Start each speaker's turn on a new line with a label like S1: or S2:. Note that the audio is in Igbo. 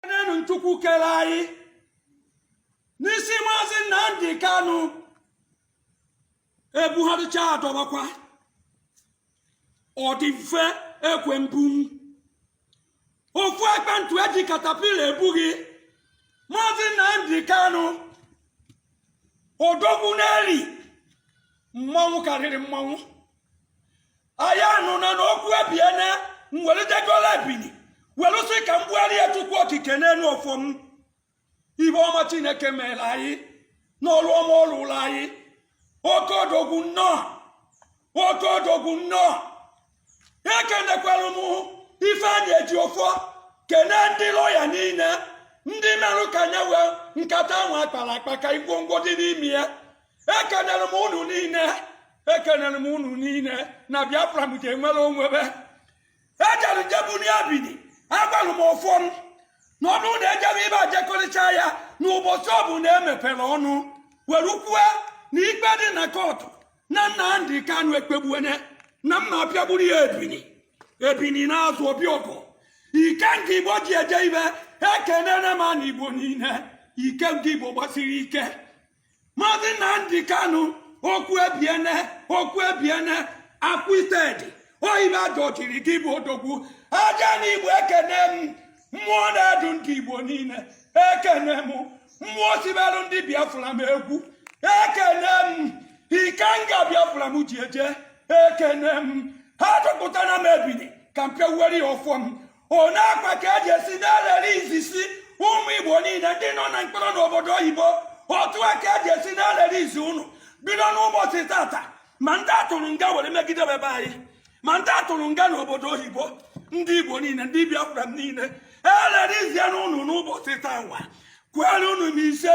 S1: enenu chukwu kere anyị n'isi maazị nnamdị kanụ ebugharịcha adọbakwa ọ dị mfe ekwe mbu ofu ekpentụ eji katapila ebu gị maazị nnamdị kanụ odogwu n'eli mmanwụ karịrị mmanwụ anyị anụna na okwu ebiene m welitegola ebini welụ sị ka m gbugharị ya chukwu okike n'elu ọfọ m ibe ọma chineke mere anyị n'ọrụ ọma ọ rụrụ anyị oke odogwu nnọọ oke odogwu nnọọ ekenekwara m ifeanyị ejiofor kene ndị lọya niile ndị merụ ka anyị wee nkata ahụ akpara akpa ka ngwongwo dị n'ime ya ekenere m unu niile ekenere m unu niile na biafra m ga-enwere onwebe ejere jebuni ebini agwara m ọfọ m na ọ bụrụ na ejebe ibe ajekọrịcha ya na ụbọchị ọbụna emepere ọnụ were kwue na ikpe dị na kọtụ na nnamdị kanu ekpegbuene na m ma apịagburu ya ebini ebini naa azụ ọ bịa ọgụ ikenga igbo ji eje ibe ekenere m na igbo niile ikenga igbo gbasiri ike maazị nnamdị kanụ okwu ebiene okwu ebiene acquitted oyibo ajọchiri gị bụ odogwu aja na igbo ekene m mmụọ na-edu ndị igbo niile ekene m mmụọ siberụ ndị biafra m egwu ekene m ikenga biafra m ji eje ekene m ha tụpụtara m ebini ka m pịawuere ya ọfọ m one akwa ka eje esi na-ereleasesị ụmụ igbo niile ndị nọ na mkpọrọ n'obodo oyibo otu a ka eje esi na-erelease unu bido n'ụbọchị tata ma ndị atụrụ nga were megide be anyị ma ndị atụrụ nga n'obodo oyibo ndị igbo niile ndị biafra m niile ereleasiene unu n'ụbọchị taa nwa kwere unu m ise